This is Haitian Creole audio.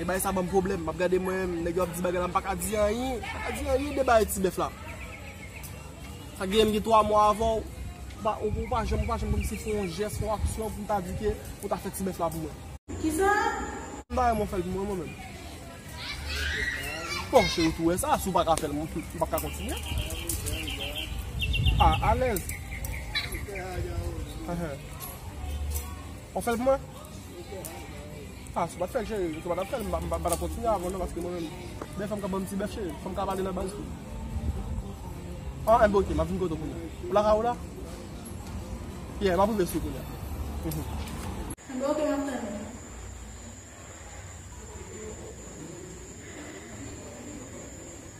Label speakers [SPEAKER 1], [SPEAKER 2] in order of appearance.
[SPEAKER 1] E bay sa banm pwoblèm map gade mwen menm nèg yo ap di bagay la m paka di anyen paka di anyen de bagay ti bèf la sa gen m gen 3 mwa avèw ou pa ou pa janm ou pa janm kòmsi fè yon jès yon aksyon pou m ta di ke ou ta fè ti bèf la pou mwen kisa
[SPEAKER 2] m ta renmen w
[SPEAKER 1] fèl pou mwen mwen menm bon cheri ou tou wè sa si w paka fèl m pap ka kontinye a alèz wap fèl pou mwen. Ah, sou pat fèl cheri, sou pat ap fèl, m pa tap kontinye avèw non paske mwen menm men fòm ka banm ti bèf cheri, fòm ka pale nan baz tou. Ah, enben ok, map vin kote w kounya. Ou la ka ou la? Yeah, map rive sou kounya. Enben
[SPEAKER 2] ok, map tann ou.